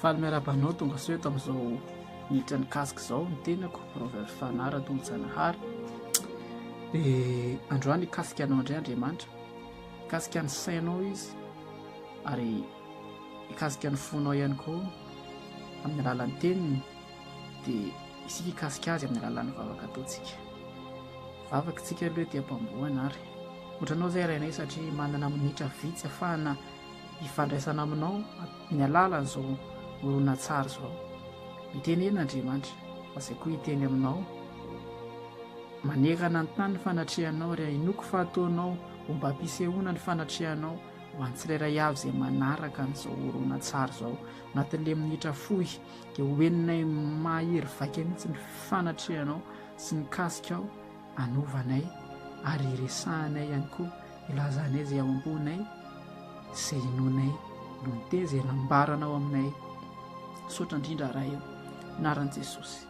Faly miarahaba anao tongasoa eto amin'izao minitra nikasika izao ny tenako Proverbe Fanara Tony Zanahary dia androany hikasika anao indray Andriamanitra hikasika ny sainao izy ary hikasika ny fonao ihany koa amin'ny alalan'ny teniny dia isika hikasika azy amin'ny alalan'ny vavaka ataontsika vavaka isika aloha dia mpambohana ary otranao izay rainay satria manana minitra vitsy afahana hifandraisana aminao amin'ny alalan'izao horonantsary izao. Miteny eny Andriamanitra, fa izay koa hiteny aminao. Manerana ny tany ny fanatrehanao ary hahinoako fa ataonao ho mba ampisehoana ny fanatrehanao ho an'ny tsirairay avy izay manaraka an'izao horonantsary izao. Anatin'ilay minitra fohy dia ho henonay mahery vaika mihitsy ny fanatrehanao sy ny kasikao. anovanay ary iresahanay ihany koa, ilazanay izay ao am-ponay, izay inoanay no ny teny izay nambaranao aminay. Misaotra indrindra Ray o, anaran'i Jesosy.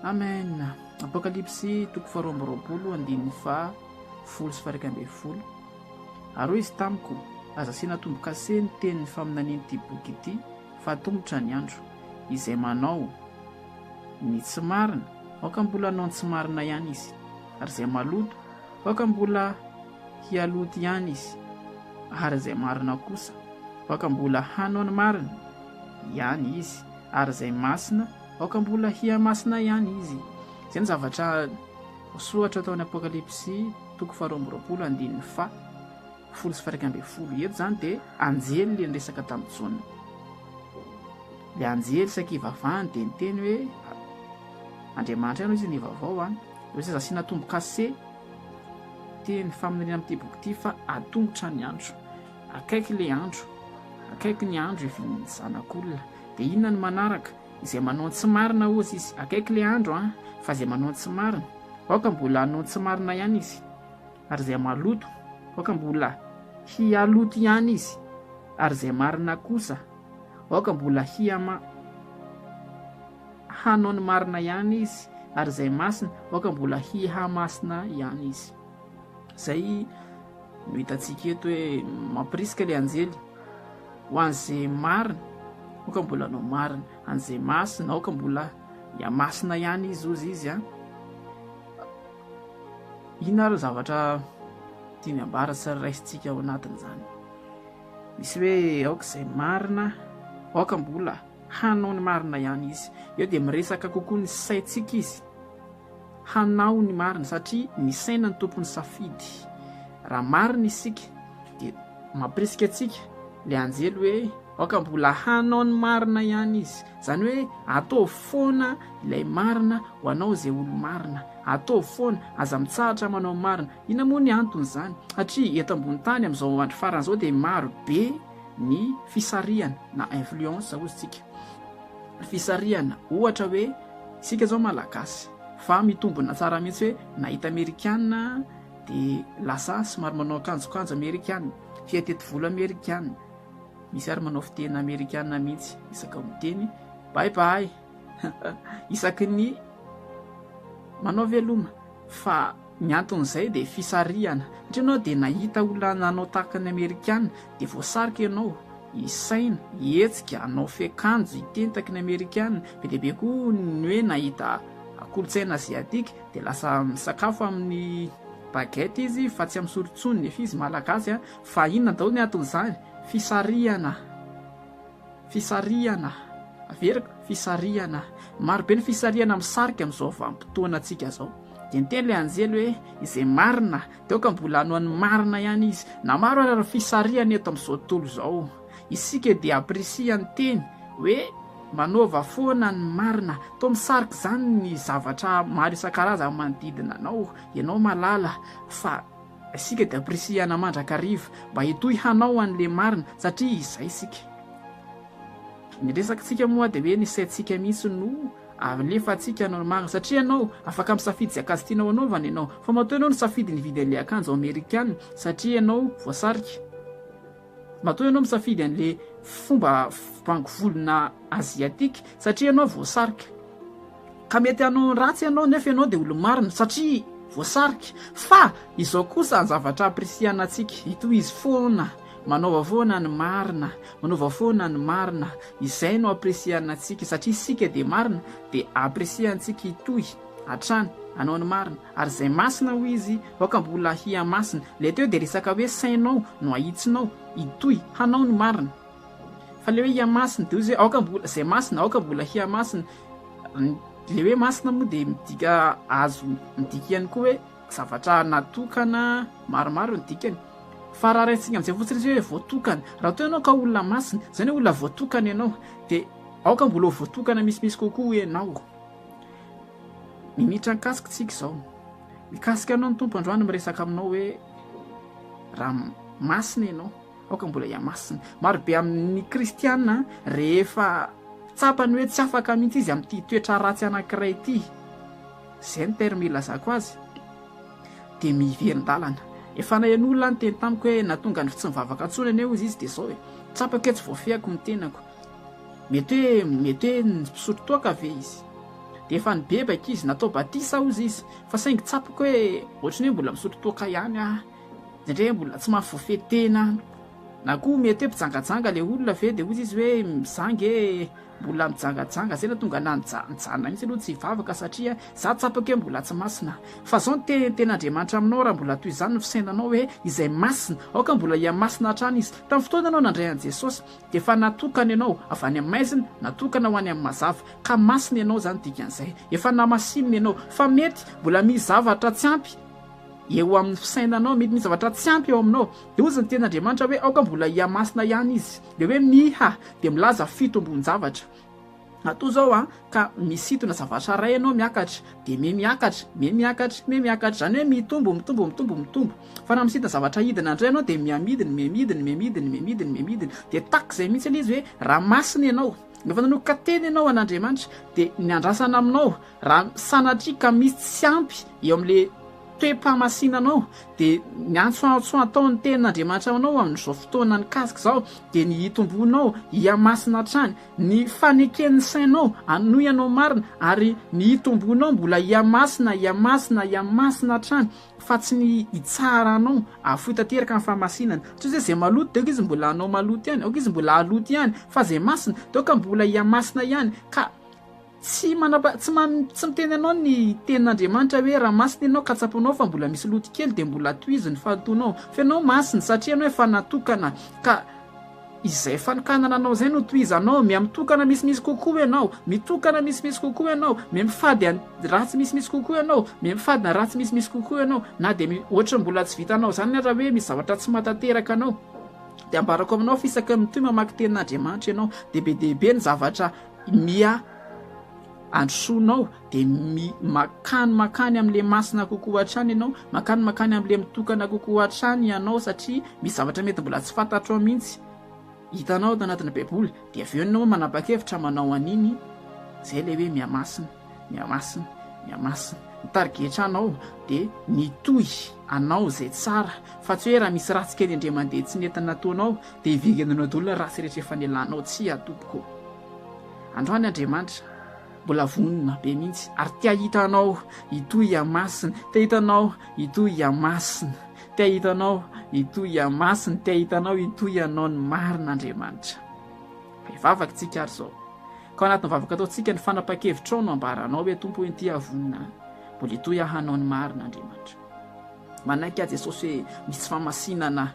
Amen. Apokalypsy toko faharoa amby roapolo andininy faha folo sy faha ambin'ny folo. Ary hoy izy tamiko, aza asiana tombo-kase ny tenin'ny faminanian'ity boky ity, fa atomotra ny andro. Izay manao. ny tsy marina, aoka mbola hanao ny tsy marina ihany izy, ary izay maloto, aoka mbola hialoto ihany izy, ary izay marina kosa, aoka mbola hanao ny marina ihany izy, ary izay masina, aoka mbola hihamasina ihany izy. Izay ny zavatra soratra tao amin'ny Apokalypsy toko faharoa amby roapolo andininy fa folo sy faraika ambin'ny folo. Eto izany dia anjely le niresaka tamin'i Jaona. Ilay anjely saiky hivavahany dia niteny hoe, Andriamanitra ihany hoy izy nivavao an! Dia tsy aza asiana tombo-kase ity ny faminaniana amin'ity boky ity fa atongotra ny andro. Akaiky ilay andro. Akaiky ny andro hivian'ny Zanak'olona. Dia inona ny manaraka? Izay manao ny tsy marina hozy izy. Akaiky ilay andro an! Fa izay manao ny tsy marina, aoka mbola hanao ny tsy marina ihany izy. Ary izay maloto, aoka mbola hialoto ihany izy. Ary izay marina kosa, Aoka mbola hiama hanao ny marina ihany izy, ary izay masina, aoka mbola hiha masina ihany izy. Izay no hitantsika eto hoe mampirisika ilay anjely, ho an'izay marina, aoka mbola hanao marina, an'izay masina, aoka mbola hiha masina ihany izy, hozy izy an. Inona ary ny zavatra tiany ambara sy raisintsika ao anatin'izany? Misy hoe aoka izay marina, aoka mbola hanao ny marina ihany izy. Eo dia miresaka kokoa ny saintsika izy hanao ny marina satria ny saina no tompon'ny safidy. Raha marina isika dia mampirisika antsika ilay anjely hoe aoka mbola hanao ny marina ihany izy. Izany hoe ataovy foana ilay marina ho anao izay olo-marina. Ataovy foana, aza mitsahatra manao ny marina. Inona moa ny anton'izany? Satria eto ambony tany amin'izao andro farany izao dia maro be ny fisarihana na influence hozy tsika. Fisarihana ohatra hoe isika izao Malagasy fa mitombina tsara mihitsy hoe nahita amerikana dia lasa somary manao akanjokanjo amerikana, fiheteti-volo amerikana, misy ary manao fiteny amerikana mihitsy isaka miteny bye bye isaky ny manao veloma. fa ny anton'izay dia fisarihana satria ianao dia nahita olona nanao tahaka ny amerikana dia voasarika ianao hisaina, hihetsika, hanao fehikanjo, hitentaky ny amerikana, be dia be koa ny hoe nahita kolontsaina aziatika dia lasa misakafo amin'ny baguette izy fa tsy amin'ny sorontsony nefa izy malagasy fa inona daholo ny anton'izany? fisarihana. Fisarihana, averiko, fisarihana. Maro be ny fisarihana misarika amin'izao vanim-potoanantsika izao. Dia niteny ilay anjely hoe, izay marina, dia aoka mbola hanao ny marina ihany izy. Na maro aza ny fisarihana eto amin'izao tontolo izao, isika dia apprécie ny teny hoe, manaova foana ny marina. Toa misarika izany ny zavatra maro isan-karazany manodidina anao, ianao mahalala fa. Isika dia pirisihana mandrakariva mba hitohy hanao an'le marina satria izay isika. Ny resakantsika moa dia hoe ny saintsika mihitsy no alefantsika hanao ny marina satria ianao afaka misafidy izay akanjo tianao hanaovana ianao fa matoa ianao nisafidy nividy an'le akanjo amerikana satria ianao voasarika. Matoa ianao misafidy an'le fomba bango volona asiatique satria ianao voasarika. Ka mety hanao ny ratsy ianao nefa ianao dia olo-marina satria voasarika. Fa izao kosa ny zavatra appreciana antsika, hitohizo foana, manaova foana ny marina, manaova foana ny marina, izay no appreciana antsika satria isika dia marina dia appreciantsika hitohy hatrany hanao ny marina. Ary izay masina, hoy izy, aoka mbola hihamasina. Ilay teo dia resaka hoe sainao no ahitsinao, hitohy, hanao ny marina. Fa ilay hoe hihamasina, dia hoy izy hoe aoka mbola, izay masina, aoka mbola hihamasina. Ilay hoe masina moa dia midika azo midika ihany koa hoe zavatra natokana maromaro ny dikany. Fa raha raisitsika amin'izay fotsiny izy hoe voatokana. Raha toa ianao ka olona masina, izany hoe olona voatokana ianao, dia aoka mbola ho voatokana misimisy kokoa ianao. Minitra nikasika tsika izao. Mikasika anao ny Tompo androany miresaka aminao hoe raha masina ianao, aoka mbola hihamasina. Maro be amin'ny kristiana rehefa tsapany hoe tsy afaka mihitsy izy amin'ity toetra ratsy anankiray ity, izay ny terme ilazako azy, dia miverin-dalana. Efa nahen'olona niteny tamiko hoe na tonga ny tsy mivavaka intsony anie hoy izy dia izao e, tsapako hoe tsy voafehiko ny tenako. Mety hoe, mety hoe nisotro toaka ve izy? Dia efa nibebaka izy, natao batisa hozy izy, fa saingy tsapako hoe ohatran'ny hoe mbola misotro toaka ihany aho, satria hoe mbola tsy mahafoy tena aho. Na koa mety hoe mpijangajanga ilay olona ve, dia hozy izy hoe, izaho ange mbola mijangajanga, izay no nahatonga ahy nija- nijanona mihitsy aloha tsy hivavaka, satria izaho tsapako hoe mbola tsy masina. Fa izao no te- tena Andriamanitra aminao, raha mbola toy izany ny fisainanao hoe izay masina, aoka mbola hihamasina hatrany izy. Tamin'ny fotoana ianao nandray an'i Jesosy, Dia efa natokana ianao avy any amin'ny maizina, natokana ho any amin'ny mazava, ka masina ianao, izany dikan'izay, efa namasinina ianao. Fa mety mbola misy zavatra tsy ampy eo amin'ny fisainanao, mety misy zavatra tsy ampy eo aminao. Dia hoy ny Tenin'Andriamanitra hoe, aoka mbola hihamasina ihany izy. Ilay hoe miha dia milaza fitombon-javatra. Atoa izao an, ka misintona zavatra iray ianao miakatra, dia miha miakatra, miha miakatra, miha miakatra, izany hoe mitombo, mitombo, mitombo, mitombo. Fa raha misintona zavatra hidina indray ianao dia miha midiny, miha midiny, miha midiny, miha midiny, miha midiny. Dia tahaka izay mihitsy ilay izy hoe raha masina ianao, rehefa nanomboka teny ianao an'Andriamanitra, dia ny andrasana aminao, raha sanatria ka misy tsy ampy eo amin'ilay toe-pahamasinanao, dia ny antsoantso ataon'ny tenin'Andriamanitra aminao amin'izao fotoana nikasika izao, dia ny hitomboanao hiha masina hatrany, Ny faneken'ny sainao hanohy anao marina ary ny hitomboanao mbola hihamasina, hihamasina, hihamasina hatrany fa tsy ny hitsara anao hahafoy tanteraka ny fahamasinana. Tsy hoe izay izay maloto dia aoka izy mbola hanao maloto ihany, aoka izy mbola haloto ihany, fa izay masina dia aoka mbola hihamasina ihany ka. Tsy manapa, tsy man, tsy miteny anao ny tenin'Andriamanitra hoe raha masina ianao ka tsapanao fa mbola misy loto kely dia mbola tohizo ny fanotoanao fa ianao masina satria ianao efa natokana ka izay fanokanana anao izay no tohizanao mia mitokana misimisy kokoa ianao mitokana misimisy kokoa ianao mia mifady an ratsy misimisy kokoa ianao mia mifady na ratsy misimisy kokoa ianao na dia mi ohatra mbola tsy vitanao izany na raha hoe misy zavatra tsy matanteraka anao dia ambarako aminao fa isaky ny mitohy mamaky tenin'Andriamanitra ianao dia be dia be ny zavatra Miha androsoana ao dia mi- mankany mankany amin'ilay masina kokoa hatrany ianao, mankany mankany amin'ilay mitokana kokoa hatrany ianao satria misy zavatra mety mbola tsy fantatro ao mihitsy hitanao ato anatin'ny Baiboly, dia avy eo ianao manapa-kevitra manao an'iny, izay ilay hoe miha masina. Miamasina, Miamasina. Ny tarigetra anao dia mitohy anao izay tsara fa tsy hoe raha misy ratsy kely indray mandeha tsy nety nataonao dia hiverenanao daholo ny ratsy rehetra efa nialanao, tsia tompoko. Androany Andriamanitra mbola vonona be mihitsy ary te hahita anao hitohy hiamasina, te hahita anao hitohy hiamasina, te hahita anao hitohy hiamasina, te hahita anao hitohy hanao ny marina Andriamanitra. Fa hivavaka isika ary izao. Ka ao anatin'ny vavaka ataontsika ny fanapahan-kevitrao no ambaranao hoe Tompo eny ity aho vonona mbola hitohy aho hanao ny marina Andriamanitra. Manaiky aho Jesosy hoe misy famasinana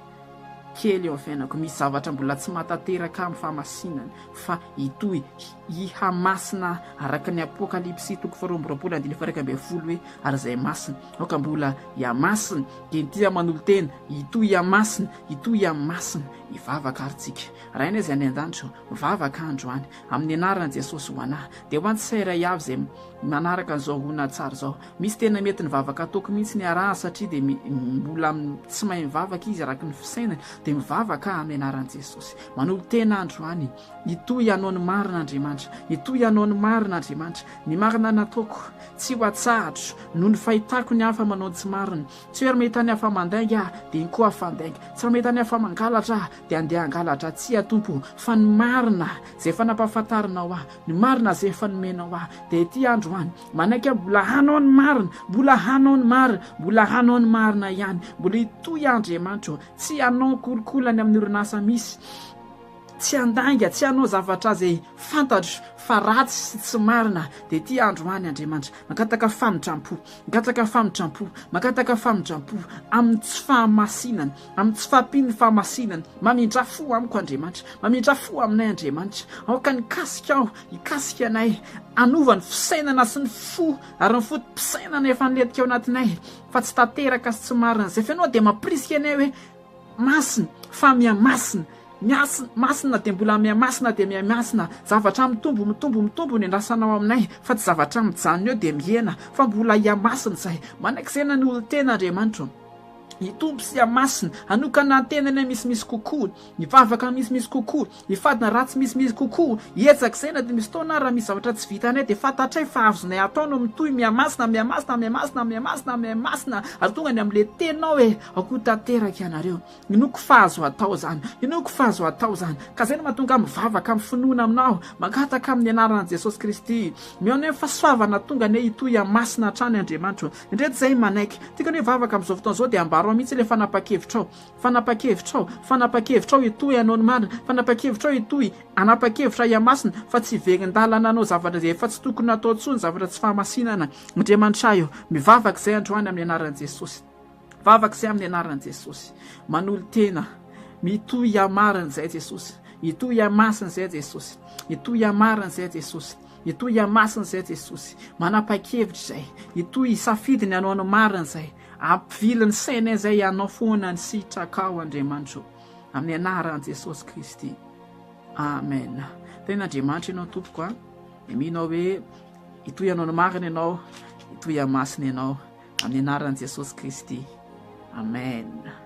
kely eo amin'ny fiainako, misy zavatra mbola tsy mahatanteraka ahy amin'ny famasinana fa hitohy hihamasina araka ny Apokalypsy toko faharoa amby roapolo andininy faha iraika ambin'ny folo hoe ary izay masina aoka mbola hihamasina dia ity aho manolo tena hitohy hihamasina hitohy hihamasina hivavaka ary tsika Rainay izay any an-danitra Mivavaka aho androany, amin'ny anaran'i Jesosy, ho an'ahy, dia ho an'ny tsirairay avy izay manaraka an'izao horonantsary izao. Misy tena mety ny vavaka ataoko mihitsy niarahany, satria dia mbola tsy mahay mivavaka izy araka ny fisainany, dia mivavaka aho amin'ny anaran'i Jesosy. Manolo-tena androany, hitohy hanao ny marina Andriamanitra, hitohy hanao ny marina Andriamanitra. Ny marina nataoko, tsy ho atsahatro, noho ny fahitako ny hafa manao ny tsy marina. Tsy hoe raha mahita ny hafa mandainga aho, dia inkoa hafa handainga. Tsy raha mahita ny hafa mangalatra aho, Dia andeha hangalatra tsia Tompo o, fa ny marina izay efa nampahafantarinao ahy, ny marina izay efa nomenao ahy, dia ity androany, manaiky aho mbola hanao ny marina, mbola hanao ny marina, mbola hanao ny marina ihany, mbola hitohy aho Andriamanitra o, tsy hanao kolikoly any amin'ny orinasa misy, tsy handainga, tsy hanao zavatra izay fantatro fa ratsy sy tsy marina, dia ity androany Andriamanitra, mangataka famindram-po, mangataka famindram-po, mangataka famindram-po amin'ny tsy fahamasinana, Amin'ny tsy fahampian'ny fahamasinany. Mamindrà fo amiko Andriamanitra. Mamindrà fo aminay Andriamanitra. Aoka nikasika aho, hikasika anay. Hanova ny fisainana sy ny fo ary ny foto-pisainana efa nilentika ao anatinay fa tsy tanteraka sy tsy marina. Izay finoana dia mampirisika anay hoe, Masina, fa mihamasina. Miasina, masina dia mbola mihamasina dia mihamasina. Zavatra mitombo, mitombo, mitombo ny andrasanao aminay, fa tsy zavatra mijanona eo dia mihena, fa mbola hihamasina izay. Manak'izay na ny olon-tena Andriamanitra ô. Hitombo sy hamasina, hanokana an-tenany amin'ny misimisy kokoa, hivavaka amin'ny misimisy kokoa, hifadina raha tsy misimisy kokoa, hiezaka izay na dia misy fotoana ary raha misy zavatra tsy vitanay dia fantatray fa azonay atao no mitohy mihamasina, mihamasina, mihamasina, mihamasina, mihamasina ary tonga any amin'ilay Tenao e! Akoho tanteraka ianareo. Inoako fa azo atao izany. Inoako fa azo atao izany. Ka izay no mahatonga ahy mivavaka amin'ny finoana Aminao, mangataka amin'ny anaran'i Jesosy Kristy. Mihaona eo ny fahasoavana hahatonga anay hitohy hamasina hatrany Andriamanitro. Ndreto zay manaiky. Ty kani vavaka amzao fotoana zao de ambaro aho mihitsy le fanapakevitrao. Fanapakevitrao. Fanapakevitrao hitohy hanao ny marina. Fanapakevitrao hitohy hanapakevitra ahy masina fa tsy hiverin-dalana hanao zavatra zay efa tsy tokony hatao tsony zavatra tsy fahamasinana. Andriamanitra ahy o. Mivavaka zay androany aminy anarany Jesosy. Vavaka zay aminy anarany Jesosy. Manolo-tena. Mitohy hamarina zay Jesosy. Hitohy hamasina zay Jesosy. Hitohy hamarina zay Jesosy. Itoy ihamasina izay Jesosy, manapa-kevitra izay, itoy hisafidy ny hanao ny marina izay, ampivily ny saina izay hanao foana ny sitrakao Andriamanitra o! Amin'ny anaran'i Jesosy Kristy. Amen. Tena Andriamanitra ianao Tompoko a. Dia mino aho hoe itoy hanao ny marina ianao, itoy hamasina ianao amin'ny anaran'i Jesosy Kristy. Amen.